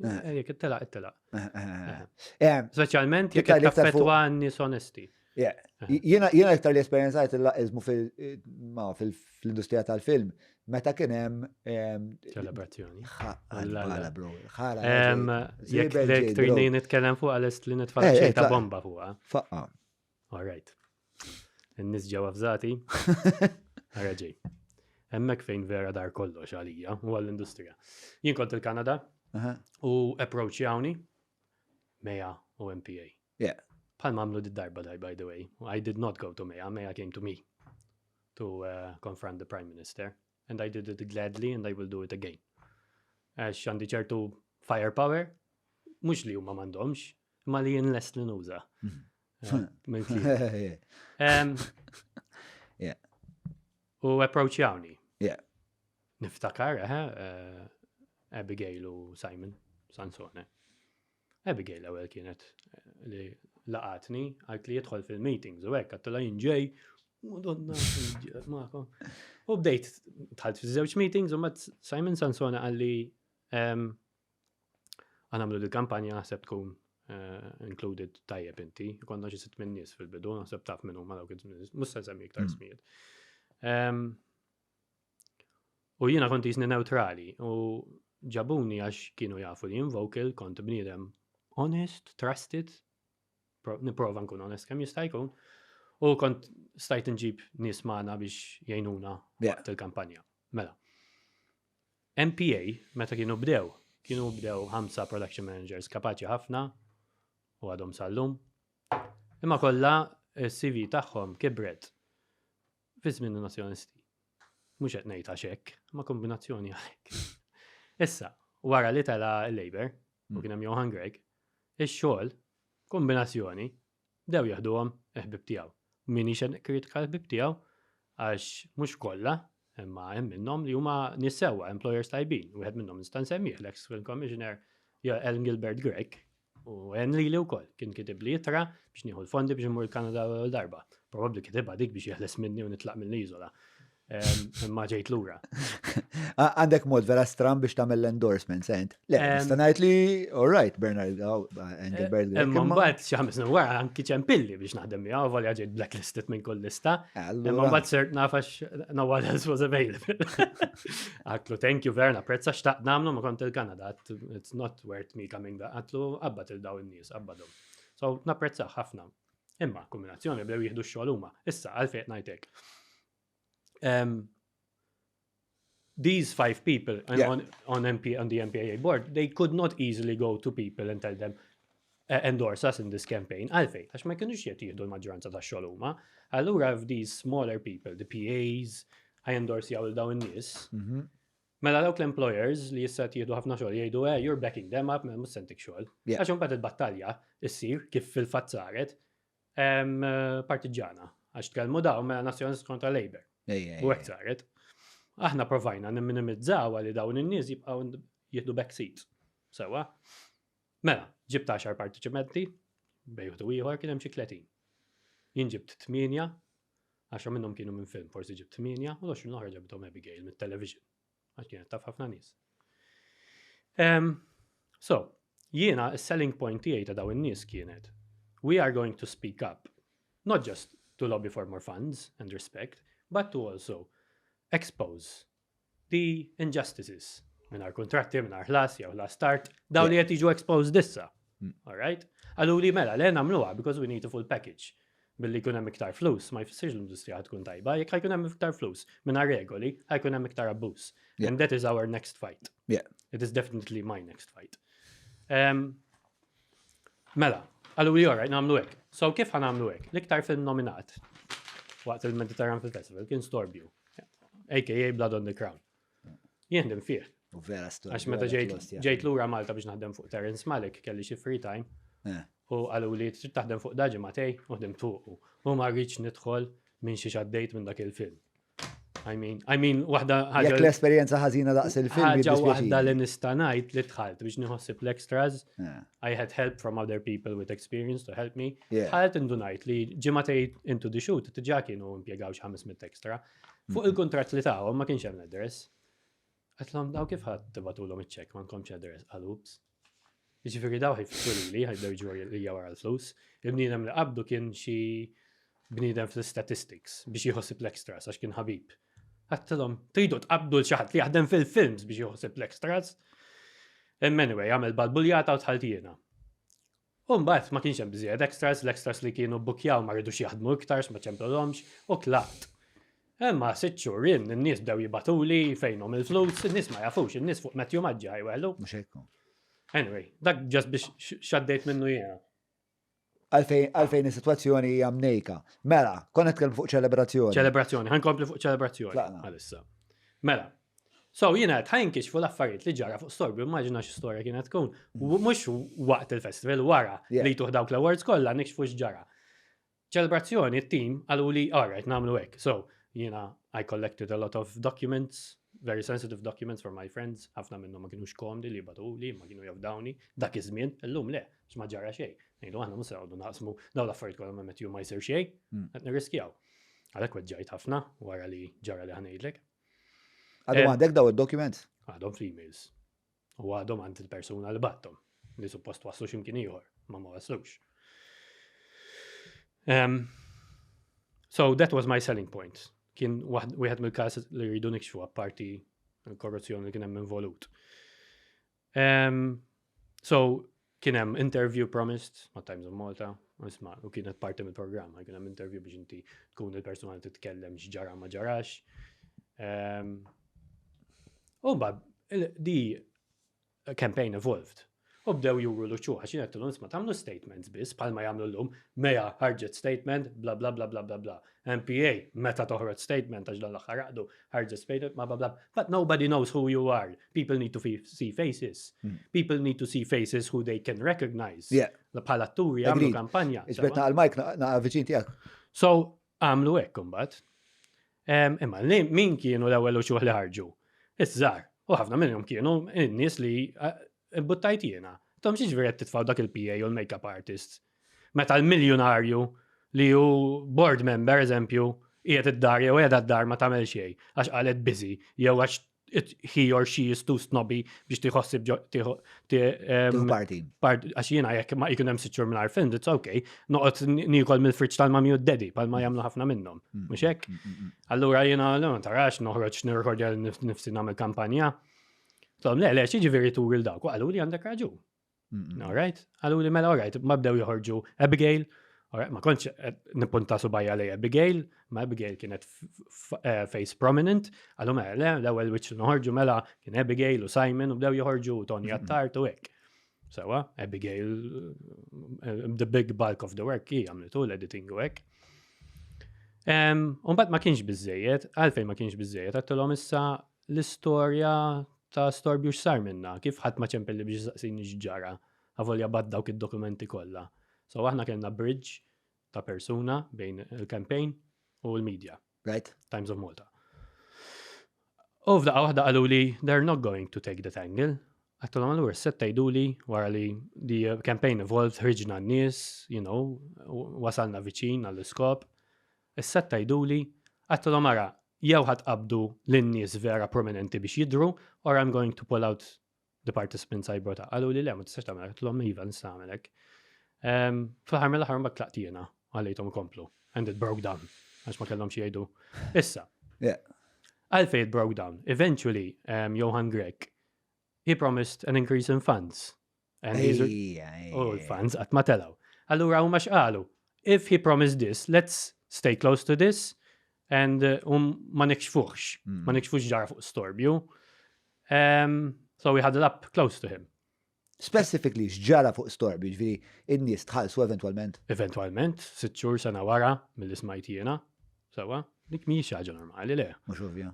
Eh. Jek it-tela, it-tela. Specialment jek it-taffetwa nis onesti. Jena iktar li esperienzajt il-laqizmu fil-industrija tal-film, meta kien hemm ċelebrazzjoni. Ħala bro. Ħala. Jekk tridni nitkellem fuq għalest li nitfall eh, eh, ta' bomba fuqha. Faqqa. All right. In-nies ġew avżati. Ara ġej. Hemmhekk fejn vera dar kollox għalija u għall-industrija. Jien kont il-Kanada u approachjawni Meja u MPA. Yeah. Bħal mamlu d-darba daj, by the way. I did not go to Meja, Meja came to me to uh, confront the Prime Minister. and I did it gladly and I will do it again. Għax għandi ċertu firepower, mux li huma mandomx, ma li jien lest li nuża. U approach jawni. Niftakar, eh, eh, Abigail u Simon Sansone. Abigail l-ewwel kienet eh, li laqatni, għalt li jidħol fil-meetings u hekk għattila jinġej, Madonna, maħkom. U bdejt tħalt fi żewġ meetings u mat Simon Sansona għalli ehm, għanamlu li kampanja naħseb tkun eh, included tajjeb inti, konna xi sitt minn nies fil-bidu, naħseb taf minn huma dawk id-żmien, mhux se nsemmi iktar mm. smijiet. Ehm, U jiena kont jisni neutrali u ġabuni għax kienu jafu li invokal kont bniedem honest, trusted, niprofa nkun honest kemm jista' jkun. U kont stajt nġib nies magħna biex jgħinuna waqt il-kampanja. Mela. MPA meta kienu bdew, kienu bdew ħamsa production managers kapaċi ħafna u għadhom sallum. Imma kollha s-CV tagħhom kibret Fi żmien in-Nazzjonisti. Mhux qed ngħid għax hekk, ma kombinazzjoni għalhekk. Issa, wara li tela l-Labor, u kien hemm Johan Greg, ix-xogħol, kombinazzjoni, dew jaħduhom il-ħbib tiegħu. Min ixen kritika l-ħbib tiegħu għax mhux kollha, imma hemm minnhom li huma nies sewwa, employers tajbin, wieħed minnhom nista' nsemmih l-ex Film Commissioner Ellen Gilbert Greg, U Henry li wkoll kien kitib li jitra biex nieħu l-fondi biex imur il-Kanada l darba. Probabbli kitibha dik biex jeħles minni u nitlaq mill-iżola. Imma ġejt lura. Għandek mod vera stram biex tagħmel l-endorsement, sent. Eh, Le, nista' ngħid li all right, Bernard Engelbert. Eh, imma mbagħad xi ħames wara anki ċempilli biex naħdem miegħu volja ġejt blacklisted minn kull lista. Eh, imma mbagħad sirt nafax no one else was available. Aklu, thank you Verna, prezza xtaqt nagħmlu ma kont il-Kanada, it's not Dwar tmita minn da qatlu, qabbad il daw in-nies, qabbadhom. So, napprezzah ħafna. Imma, kombinazzjoni bdew jieħdu x-xogħol huma. Issa, għalfejn ngħidlek. Um, these five people yeah. on, on, MP, on the MPAA board, they could not easily go to people and tell them, uh, endorse us in this campaign. Għalfejn, għax ma kienux jett jihdu l-maġġoranza ta' xogħol huma. Allura these smaller people, the PAs, I endorse jaw dawn in-nies. Mhm. Mela dawk l-employers li jissat jieħdu ħafna xogħol jgħidu eh you're backing them up mhux se ntik xogħol. Għax imbagħad il-battalja issir kif fil-fatt saret partiġġana għax tkellmu daw mela nazzjonalist kontra Labour. U hekk saret. Aħna provajna nimminimizzaw li dawn in-nies jibqgħu jieħdu backseat. Sewa. Mela, ġibt 10 partiċipanti, bejħdu ieħor kien hemm xi 30. Jien ġibt 8, 10 minnhom kienu minn film, forsi ġibt 8, u l-20 l-oħra ġabithom Abigail mit-television. Għax kienet taf ħafna nies. So, jiena s-selling point tiegħi ta' daw in-nies kienet we are going to speak up, not just to lobby for more funds and respect, but to also expose bi injustices, mingħajr kuntratti, mingħajr ħlas, jew ħlas tard, dawn li qed jiġu exposed issa. Mm. All right? Għallu li mela, le nagħmluha because we need a full package billi jkun hemm iktar flus, ma jfissirx l-industrija tkun tajba, jekk ħajkun hemm iktar flus minna regoli, ħajkun hemm iktar abbuż. And that is our next fight. Yeah. It is definitely my next fight. Um, Mela, għallu li joraj, namlu hekk. So kif ħan namlu hekk? L-iktar film nominat waqt il-Mediterranean Film Festival kien Storbju, aka Blood on the Crown. Jien din fih. U vera storja. Għax meta ġejt lura Malta biex naħdem fuq Terence Malik, kelli xi free time. Eh. U għallu li trid taħdem fuq daġi Matej, u ħdim tuqu. U ma rridx nidħol minn xi xaddejt minn dak il-film. I mean, I mean, waħda ħaġa. Jekk l-esperjenza ħażina daqs il-film. Ħaġa waħda li nista' ngħid li dħalt biex nieħossib l-extras. I had help from other people with experience to help me. Dħalt indunajt li ġimgħatej into the shoot tiġa kienu impjegaw xi 500 extra. Fuq mhm. il-kuntratt li tagħhom ma kienx hemm l-address. Għatlhom daw kif ħadd tibatulhom iċ-ċek ma nkomx address għal ups. Ġifiri daw ħiftu li li ħajdew ġu li wara l-flus. Il-bniedem li qabdu kien xi bniedem fl-statistics biex jħossib l-extras għax kien ħabib. Għattilom, tridu tqabdu l-ċaħat li jaħdem fil-films biex jħossib l-extras. Anyway, għamil balbuljata u tħaltijena. U mbagħad ma kienx hemm biżżejjed extras, l-extras li kienu bbukkjaw ma ridux jaħdmu iktar x'ma ċemplulhomx u tlaqt. Imma sitt xhur jien in-nies bdew jibagħtuli fejnhom il-flus, in-nies ma jafux, in-nies fuq Matthew Maġġa ħajweħlu. Mhux hekk hu. Anyway, dak ġast biex x'għaddejt minnu jiena. Għalfejn għalfejn is-sitwazzjoni hija mnejka. Mela, konna nitkellmu fuq ċelebrazzjoni. Ċelebrazzjoni, ħankompli fuq ċelebrazzjoni. Tlaqna. Għalissa. Mela, So, jina għed ħajinkixfu l-affarijiet li ġara fuq Storbu, immaġina xi storja kienet tkun. Mux waqt il-festival, wara li tuħ dawk l-awards kollha nikxfu x'ġara. Ċelebrazzjoni, t-tim għalu li għarret namlu hekk. So, jina I collected a lot of documents, very sensitive documents for my friends, ħafna minnhom ma kienux komdi li batu li ma kienu jafdawni, dak iż-żmien, illum le, x'ma ġara xejn. Nejlu aħna mhux għawdu naqsmu daw l-affarijiet kollha ma metju ma jsir xejn, hmm. qed nirriskjaw. Għalhekk weġġajt ħafna wara li ġara li ħanejdlek. Għadhom għandek daw id-documents? Għadhom fl-emails. U għadhom għand il-persuna li battom, li suppost waslu ximkien ieħor, ma ma waslux. Um, so that was my selling point. Kien wieħed mill-każ li rridu nikxfu apparti l-korruzzjoni li kien hemm involut. Um, so, kien hemm interview promised ma' Times of Malta, isma' u kienet parti mill-programm, kien hemm interview biex inti tkun il-persuna li titkellem x'ġara ma ġarax. Um, u bad, di campaign evolved. U bdew juru l-uċu, għax jina t-tilum isma tamlu statements bis, palma jamlu l-lum, meja ħarġet statement, bla bla bla bla bla bla. MPA, meta toħroġ statement, għax dan l-axħar għadu, ħarġet statement, bla bla bla. But nobody knows who you are. People need to see faces. Hmm. People need to see faces who they can recognize. Bħal atturi għamlu kampanja. Iġbet naqal Mike naqal viċin tijak. So, għamlu ekk kumbat. Imma li min kienu l-ewel uċuħ li ħarġu? Iż-żar. U ħafna minnhom kienu n-nies li eh, buttajt jiena. Tom xiex veret titfaw dak il-PA u l-makeup artist. Meta l-miljonarju li ju board member, eżempju, jiet id-dar jew qiegħda d-dar ma tagħmel xejn għax qalet busy jew għax he or she is too snobby biex tiħossib tiħu parti. Għax jiena jekk ma jkun hemm siċur minn arfin, it's okay. Noqgħod nikol mill-friġġ tal-mami u d-dedi, pal ma jagħmlu ħafna minnhom. Mm, Mhux mm, hekk? Mm, Allura jiena ma tarax noħroġ nirħodja nifsi nagħmel kampanja. Tom, le, le, xi ġifieri turi l-dawk, għallu li għandek raġun. All right? Għallu li mela, all right, ma bdew joħorġu Abigail, ma kontx eh, nipunta subajja li Abigail, ma Abigail kienet eh, face prominent, għallu mela, le, l-ewel witch noħorġu mela kien Abigail u Simon u bdew joħorġu Tony Attart u hekk. Sewa, Abigail, eh, the big bulk of the work hi għamlitu l-editing u hekk. Umbat ma kienx bizzejiet, għalfej ma kienx bizzejiet, għattulom issa l-istorja ta' storbju x'sar minna, kif ħadd ma ċempilli biex isaqsini x'ġara, avolja b'għadd dawk id-dokumenti kollha. So aħna kellna bridge ta' persuna bejn il-campaign u l-media. Right. Times of Malta. U f'daqqa waħda qalu li they're not going to take that angle. Għattu l għur set tajdu li wara li di campaign evolved ħriġna n-nies, you know, wasalna viċin għall-iskop. Issa qed tgħiduli, għadtilhom ara, jew ħa tqabbdu lin-nies vera prominenti biex jidhru or I'm going to pull out the participants I brought up. Qaluli le, ma tistax tagħmel hekk, għedtilhom iva nista' nagħmel hekk. Ehm, fl-aħħar mill-aħħar mbagħad tlaqt jiena għalejthom ikomplu and it broke down għax ma kellhom xi jgħidu. Issa. Għalfej it broke down. Eventually, um, Johan Grek, he promised an increase in funds U l-fans qatt ma telgħu. Allura huma x'qalu? If he promised this, let's stay close to this and uh, um, ma nikxfuħx, hmm. ma nikxfuħx ġara fuq storbju. Um, so we huddle up close to him. Specifically, xġara fuq storbju, ġviri, in-nies tħallsu eventualment? Eventualment, sitt xhur sena wara mill-ismajt jiena, sewa, dik mhijiex ħaġa normali le. Mhux ovvja.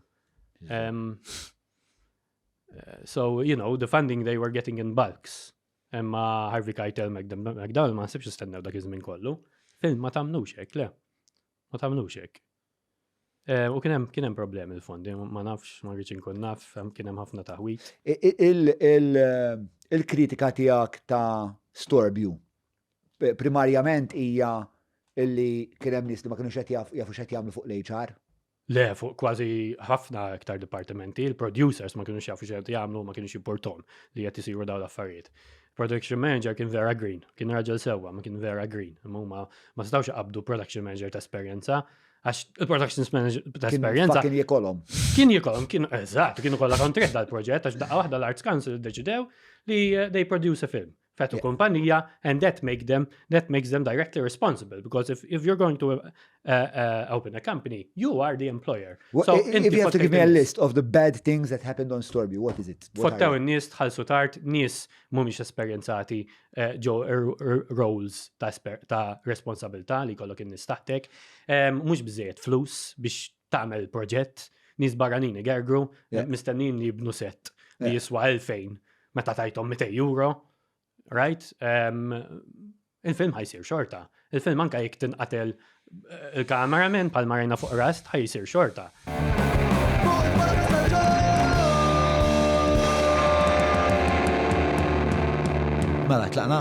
Eh, so, you know, the funding they were getting in bulks. Emma Harvey Keitel McDowell ma nsibx istennew dak iż-żmien kollu. Film ma tamnux hekk, le. Ma tamnux hekk. Eh, u kienem kienem problem il-fondi, ma nafx, ma rridx inkun naf, kienem ħafna taħwit. Il-kritika eh, tijak ta' Storbju, primarjament hija illi kienem nis li ma kienu xed jafu xed jamlu fuq l-HR. Le, fuq kważi ħafna iktar dipartimenti, il-producers ma kienux jafu xejn jagħmlu, ma kienux jimportom li qed isiru dawn l-affarijiet. Production manager kien vera green, kien raġel sewwa, ma kien vera green. Imma ma stawx qabdu production manager ta' esperjenza Għax il-production manager ta' esperienza. Kien jikolom. Kien jikolom, kien, eżat, kienu kolla kontret dal-proġett, għax daqqa wahda l-Arts Council deċidew li eh, they produce a film. Fett u kumpanija, and that make them that makes them directly responsible because if, if you're going to uh, uh, open a company, you are the employer. Well, so if, if you have to give me a list of the bad things that happened on Storby, what is it? Fottaw in-nies tħallsu tard, nies mhumiex esperjenzati eh, ġo er, er, roles ta' ta' responsabilità li kollok in-nies taħtek, mhux biżejjed flus biex tagħmel proġett, nies barranin igergru, mistennin li jibnu set li jiswa 2000 meta tajtom 200 euro, right? il-film ħajsir xorta. Il-film anka jek tinqatel eh, il-kameraman pal marina fuq rast ħajsir xorta. Mela, tlaqna?